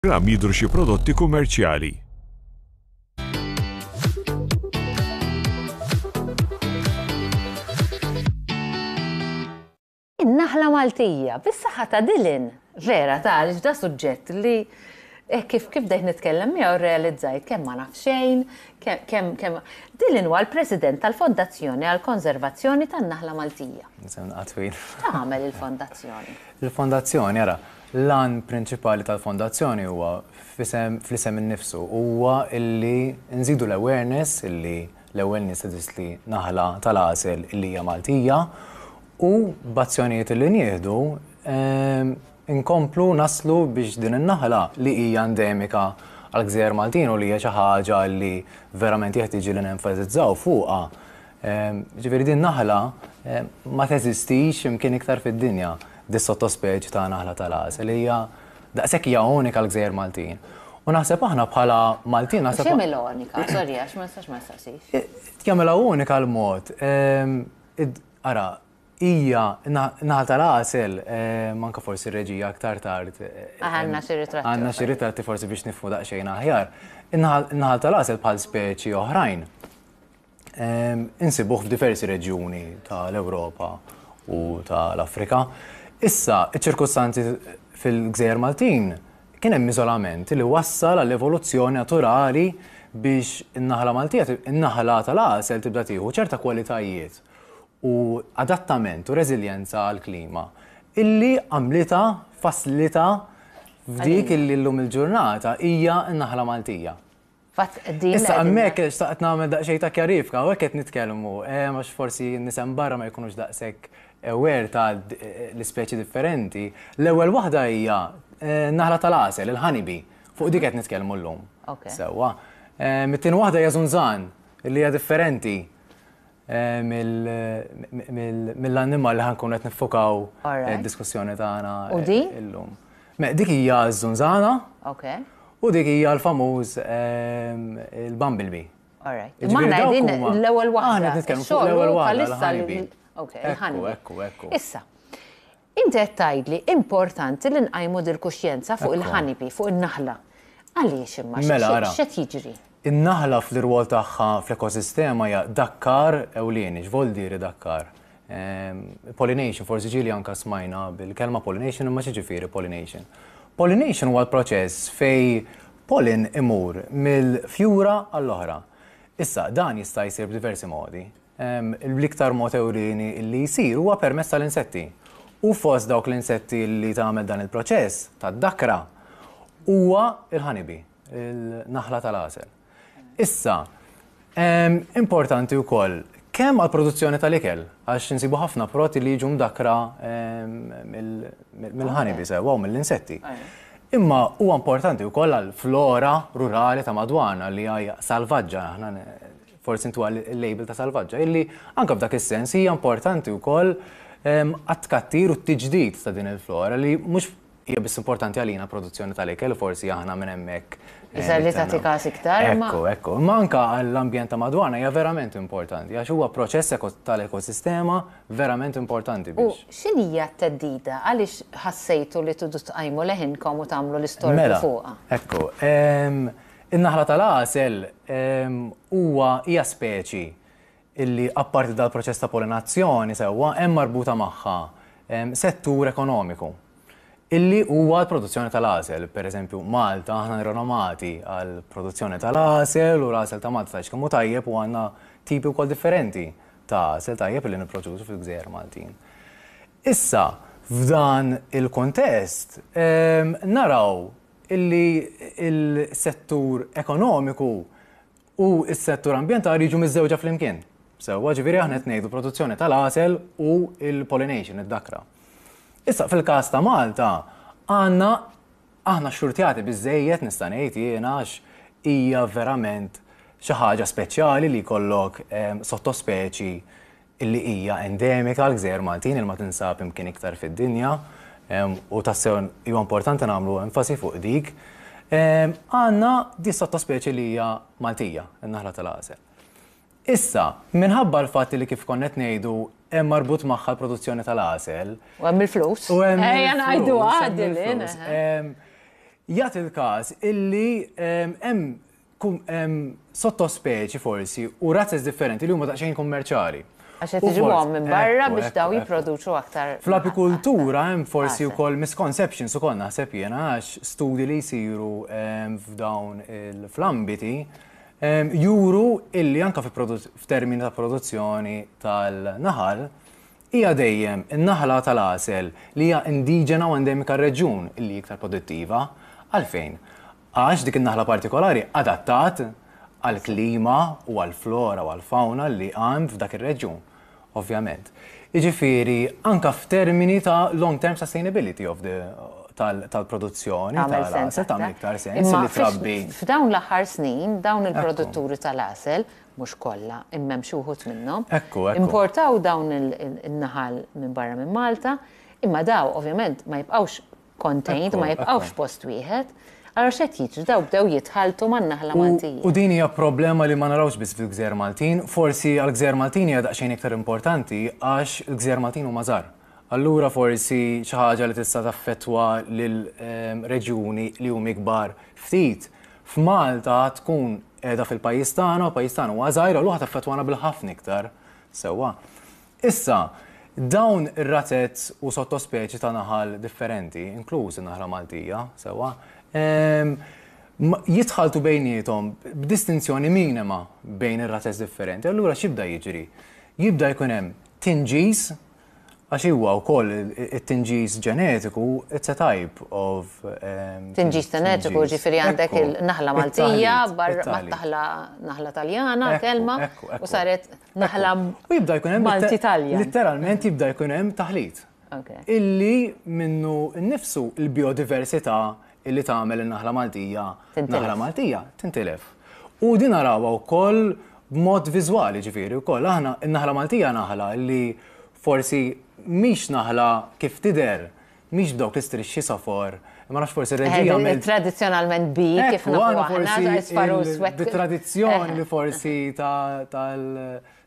Ram jidhru xi prodotti kummerċjali. In-naħla Maltija, bis-saħħa ta' Dylan! Vera, ta' għaliex da suġġett li eh, kif kif dejt nitkellem miegħu realizzajt kemm ma naf xejn, kemm kemm Dylan huwa l-President tal-Fondazzjoni għall konservazzjoni tan-Naħla Maltija. Nisem naqatwin. Tagħmel il-Fondazzjoni. Il-Fondazzjoni, ara, L-għan prinċipali tal-Fondazzjoni huwa, fl-isem innifsu, huwa illi nżidu l-awareness illi l-ewwel nies teżisti li naħla tal-għasel illi hija Maltija u b'azzjonijiet illi nieħdu nkomplu naslu biex din in-naħla li hija endemika għall-gżejjer Maltin u li hija xi ħaġa li verament jeħtieġ li nenfasizzaw fuqha Jiġifieri din naħla ma teżistix x'imkien iktar fid-dinja, dis-sottospeċi ta' naħla tal-għasel. Hija daqshekk hija unika l-gżejjer Maltin. U naħseb aħna bħala Maltin naħseb. X'jagħmilha unika? Sorry għax ma nistax ma nistaqsix. Jagħmilha unika l-mod. Ara, hija naħla tal-għasel, manka forsi r-reġija aktar tard. Għandna xi ritratti. Għandna xi ritratti forsi biex nifhmu daqsxejn aħjar. In-naħla tal-għasel bħal speċi oħrajn Insibuh f'diversi reġjuni ta' l-Ewropa u ta' l-Afrika. Issa, iċ-ċirkustanzi fil-Gżejjer Maltin kien hemm iżolament li wassal għall-evoluzzjoni naturali biex in-naħla Maltija, in-naħla ta' l-għasel tibda tieħu ċerta kwalitajiet u adattament u reżiljenza għall-klima illi għamlitha, fasslitha f'dik illi llum il-ġurnata hija n-naħla Maltija. Fatt din. Issa hemmhekk xtaqt nagħmel daqsxejn ta' kjarifika, hawnhekk qed nitkellmu, eh, għax forsi nisem barra ma jkunux daqshekk aware ta' l-ispeċi differenti. L-ewwel waħda hija eh, naħla tal-għasel, il-ħanibi, fuq dik qed nitkellmu llum. Sewwa. Eh, Mit-tieni waħda hija żunżan, li hija differenti. mill-annimal li ħankun qed niffokaw id-diskussjoni tagħna illum. Dik hija ż-żunżana. U dik hija l-famuż il-bumblebee. Maħna din l-ewwel waħda. Aħna nitkellmu fuq l-ewwel waħda. Ekku, ekku, ekku. Issa, Inti qed tgħidli importanti li nqajmu dil-kuxjenza fuq il-ħanipi, fuq in-naħla. Għaliex imma? X'qed jiġri? In-naħla fl-irwol tagħha fl-ekosistema hija dakkar ewlieni. X'voldiri dakkar? Pollination, forsi ġieli anke smajna bil-kelma pollination imma x'jiġifieri pollination? Pollination huwa l-proċess fejn pollen imur mill-fjura għall-oħra. Issa, dan jista' jsir b'diversi modi. L-iktar mod ewlieni li jsir huwa permezz tal-insetti. U fost dawk l-insetti li tagħmel dan il-proċess tad-dakra huwa l-honeybee, il-naħla tal-għasel. Issa, importanti wkoll kemm għall-produzzjoni tal-ikel, għax insibu ħafna prodotti li jiġu mdakkra mill-honeybee sewwa u mill-insetti. Imma huwa importanti wkoll għall-flora rurali ta' madwarna li hija salvaġġa aħna forsi intuha l-label ta' salvaġġa, illi anke f'dak is-sens hija importanti wkoll ehm, għat-tkattir u t-tiġdid ta' din il-flora li mhux hija biss importanti għalina produzzjoni tal-ikel, forsi aħna minn hemmhekk. Eh, Iżda li tagħti każ iktar. Ekku, ekku. Imma anka għall-ambjent ta' madwana hija verament importanti, għax huwa proċess tal-ekosistema verament importanti biex. U x'in hija t-teddida għaliex ħassejtu li tudu tqajmu leħinkom u tagħmlu l-istorja mela, fuqha? Ekku. In-naħla tal-għasel huwa hija speċi li apparti dal-proċess ta' polinazzjoni sewwa hemm marbuta magħha settur ekonomiku illi huwa l-produzzjoni tal-għasel. Per eżempju, Malta aħna nirrenomati għal produzzjoni tal-għasel u l-għasel ta' Malta tgħidx kemm hu tajjeb u għandna tipi wkoll differenti ta' għasel tajjeb li nipproduċu fil-gżejjer Maltin. Issa, f'dan il-kuntest naraw illi s-settur ekonomiku u s-settur ambjentali jiġu miżżewġa flimkien. Sewwa, ġifieri aħna qed ngħidu produzzjoni tal-għasel u l-pollination, id-dakra. Issa fil-każ ta' Malta għandna aħna xxurtjati biżżejjed nista' ngħid jiena għax hija verament xi ħaġa speċjali li jkollok sottospeċi illi hija endemika għall-gżejjer Maltin illi ma tinsab imkien iktar fid-dinja u tassew huwa importanti nagħmlu enfasi fuq dik, għandna di sottospeċi li hija Maltija, in-naħla tal-għasel. Issa, minħabba l-fatt li kif konna qed ngħidu hemm marbut magħha l-produzzjoni tal-għasel. U hemm il-flus. U hemm. Ejja ngħidu għadilin. Jagħti l-każ illi hemm sottospeċi forsi u razzez differenti li huma daqsxejn kummerċali. Għax qed iġibuhom minn barra biex daw jipproduċu aktar. Fl-apikultura hemm forsi wkoll misconceptions ukoll naħseb jiena għax studji li jsiru f'dawn il-flambiti juru illi anka f'termini ta' produzzjoni tal-naħal hija dejjem in-naħla tal-għasel li hija indiġena u endemika reġjun li iktar produttiva. Għalfejn? Għax dik in-naħla partikolari adattat għall-klima u għall-flora u għall-fawna li għand f'dak ir-reġjun, ovvjament. Jiġifieri anke f'termini ta' long term sustainability of the tal-produzzjoni tal-għasel tagħmel iktar sens li trabbi. Imma f'dawn l-aħħar snin dawn il-produtturi tal-għasel, mhux kollha, imma hemm xi wħud minnhom, importaw dawn in-naħal minn barra minn Malta, imma dawn ovvjament ma jibqgħux contained, ma jibqgħux f'post wieħed, allura x'qed jiġri? Dawn bdew jitħalltu man-naħla Maltija. U din hija problema li ma narawhx biss fil-Gżejjer Maltin, forsi għall-Gżejjer Maltin hija daqsxejn iktar importanti għax il-Gżejjer Maltin huma żgħar. Allura forsi xi ħaġa li tista' taffettwa lil reġjuni li huma ikbar ftit f'Malta tkun qiegħda fil-pajjiż tagħna u l-pajjiż tagħna huwa żgħir allura taffettwana bil-ħafna iktar sewwa. Issa, dawn ir-razez u sottospeċi ta' naħal differenti, inkluż in-naħra Maltija, sewwa, jitħalltu bejniethom b'distinzjoni minima bejn ir-razez differenti, allura x'jibda jiġri? Jibda jkun hemm tinġiż, għax huwa wkoll it-tinġiż ġenetiku, it's a type of. Tinġiż ġenetiku, jiġifieri għandek il-naħla Maltija, barra mat-naħla Taljana, kelma, u saret. Naħla U jibda jkun hemm Malti litter- Taljan. Litteralment jibda jkun hemm taħlit. Ok. Illi minnu nnifsu l-biodiversità illi tagħmel in-naħla Maltija Tintilef. naħla Maltija tintilef. U din narawha wkoll b'mod viżwali ġifieri wkoll aħna n-naħla Maltija naħla li forsi mhix naħla kif tidher Mhix b'dawk l-istrixxi safor, imma nafx forsi r-reġija minn. Tradizzjonalment bi kif nafu aħna sparu swett. Tradizzjoni li forsi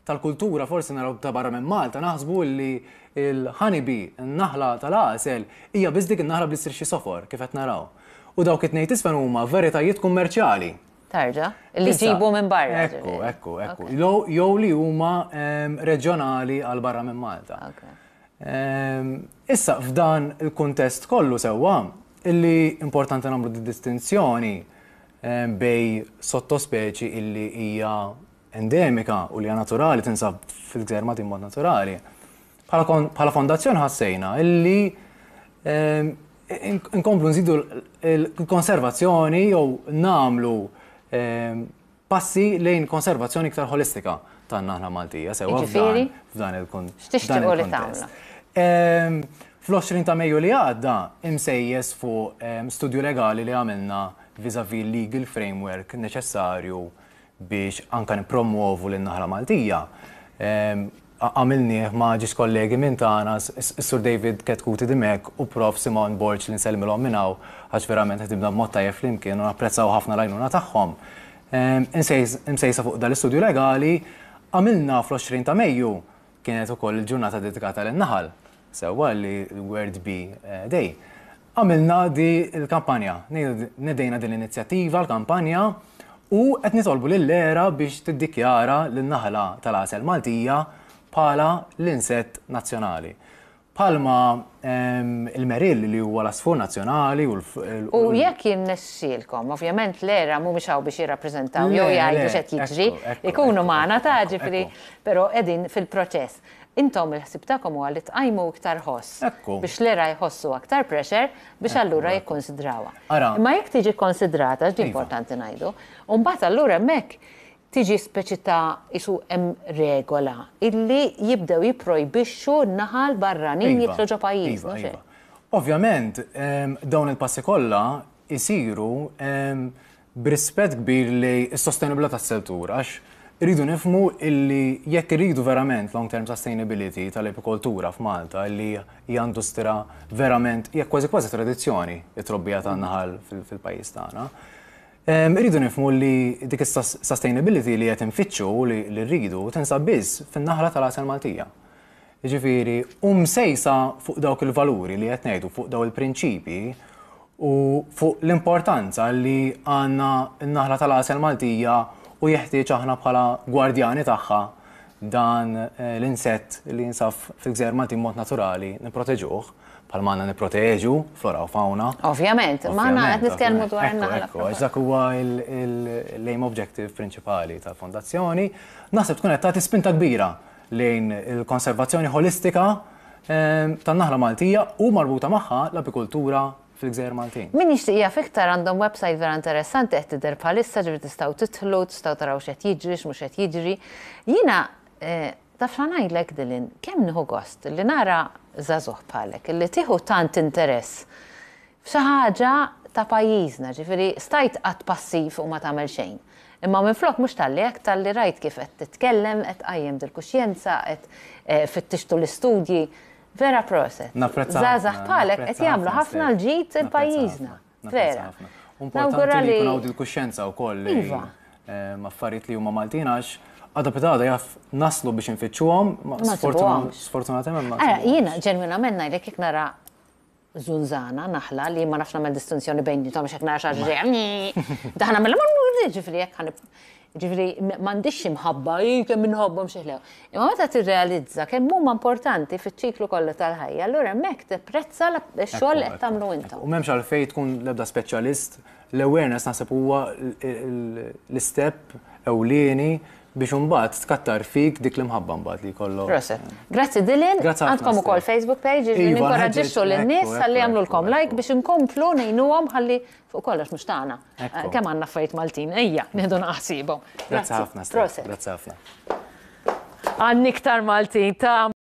tal-kultura forsi naraw ta' barra minn Malta naħsbu li l-ħanibi, n-naħla tal-għasel, hija biss dik in-naħla bl-istrixxi safor kif qed naraw. U dawk it-tnejn tisfel huma veritajiet kummerċjali. Tarġa, li ġibu minn barra. Ekku, ekku, ekku. Jew li huma reġjonali għal barra minn Malta. Issa, f'dan il-kuntest kollu sewwa, illi importanti nagħmlu d-distinzjoni bej sottospeċi illi hija endemika u li hija naturali tinsab fil-Gżejjer Maltin mod naturali. Bħala fondazzjoni ħassejna illi nkomplu nżidu l-konservazzjoni jew nagħmlu Passi lejn konservazzjoni iktar holistika tan-naħla Maltija, sewa f'dan il-kuntest. X'tixtiequ li tagħmlu? Ehm, Fl-20 ta' Mejju li għadda, imsejjes fuq ehm, studju legali li għamilna vis-a-vis legal framework neċessarju biex anka nipromuovu l-naħla Maltija. Ehm, Għamilnieh ma' ġiex kollegi minn tagħna, s-Sur David Ketkuti Dimech u Prof. Simon Borg li nsellmilhom minn hawn għax verament ħdimna b'mod tajjeb flimkien u napprezzaw ħafna l-għajnuna tagħhom. Imsejsa fuq dan l-istudju legali, għamilna fl-20 ta' Mejju, kienet ukoll il-ġurnata dedikata lin-naħal, sewwa li we're to be day. Għamilna din il-kampanja, nedejna din l-inizjattiva, l-kampanja, u qed nitolbu lill-ERA biex tiddikjara lin-naħla tal-għasel Maltija bħala l-insett nazzjonali. Bħalma l-merill li huwa l-għasfur nazzjonali u l. U jekk jirnexxielkom, ovvjament l-ERA mhumiex hawn biex jirrappreżentaw jew jgħidu x'qed jiġri, ikunu magħna ta' ġifieri, però qegħdin fil-proċess. Intom il-ħsieb tagħkom huwa li tqajmu iktar ħoss. Ekku. Biex l-era jħossu aktar pressure biex allura jikkunsidrawha. Ara. Imma jekk tiġi kkonsidrata, għax din importanti ngħidu, u mbagħad allura hemmhekk tiġi speċi ta' isu hemm regola illi jibdew jipprojbixxu n-naħal barranin jidħlu ġo pajjiżna, mhux hekk? Ovvjament, dawn il-passi kollha jsiru b'rispett kbir lejn is-sostenibilità tas-settur għax irridu nifhmu illi jekk irridu verament long term sustainability tal-apikoltura f'Malta illi hija industra verament hija kważi kważi tradizzjoni it-trobbija tan-naħal fil-pajjiż tagħna. Irridu nifhmu li dik is-sustainability li qed infittxu li rridu tinsab biss fin-naħla tal-għasel Maltija. Jiġifieri, hu msejsa fuq dawk il-valuri li qed ngħidu, fuq dawn il-prinċipji u fuq l-importanza li għandna n-naħla tal-għasel Maltija u jeħtieġ aħna bħala gwardjani tagħha dan l-insett li jinsab fil-gżejjer Maltin b'mod naturali nipproteġuh bħalma għandna nipproteġu flora u fawna. Ovvjament, ma aħna qed nitkellmu dwar in-naħla. Ekku, għax dak huwa l-aim objective prinċipali tal-fondazzjoni, naħseb tkun qed tagħti spinta kbira lejn il-konservazzjoni ħolistika tan-naħla Maltija u marbuta magħha l-apikultura fil-gżejjer Maltin. Min jixtieq jaf iktar għandhom website vera interessanti qed tidher bħalissa ġifieri tistgħu tidħlu, tistgħu taraw x'qed jiġri, x'mhux qed jiġri. Jiena taf x'għa ngħidlek Dylan, kemm nieħu gost li nara żagħżugħ bħalek li tieħu tant interess F'xi ħaġa ta' pajjiżna, ġifieri stajt tqgħad passiv u ma tagħmel xejn. Imma minflok mhux talli hekk, talli rajt kif qed titkellem, qed tqajjem dil-kuxjenza, qed fittixt tul l-istudji. Vera proset. Żgħażagħ bħalek qed jagħmlu ħafna l-ġid il-pajjiżna. Vera. Nawgura li. Importanti li jkun hawn dil-kuxjenza wkoll li affarijiet li huma Maltin għax għada pitada jaf naslu biex infittxuhom, ma sfortunatament ma. Ara, jiena ġenwinament ngħidlek jekk nara zunzana, naħla, li ma nafx nagħmel distinzjoni bejnietom għax hekk nara xi ġej. Daħna mill ġifri hekk ħanib. Ġifri m'għandix xi mħabba, kemm inħobbhom xi ħlew. Imma meta tirrealizza kemm huma importanti fiċ-ċiklu kollha tal-ħajja, allura hemmhekk tipprezza x-xogħol li qed tagħmlu intom. U m'hemmx għalfejn tkun l-ebda speċjalist, l-awareness naħseb huwa l-istep ewlieni Biex imbagħad tkattar fik dik l-imħabba mbagħad li jkollok. Proset. Grazzi Dylan, għandkom ukoll Facebook page iġri iva, ninkoraġġixxu lin-nies ħalli jagħmlulkom like biex inkomplu ngħinuhom ħalli fuq kollox mhux tagħna. Eh, kemm għandna affarijiet Maltin, ejja, nieħdu naqsibhom. Grazzi ħafna. Proset. Grazzi ħafna. Għandni iktar Maltin ta'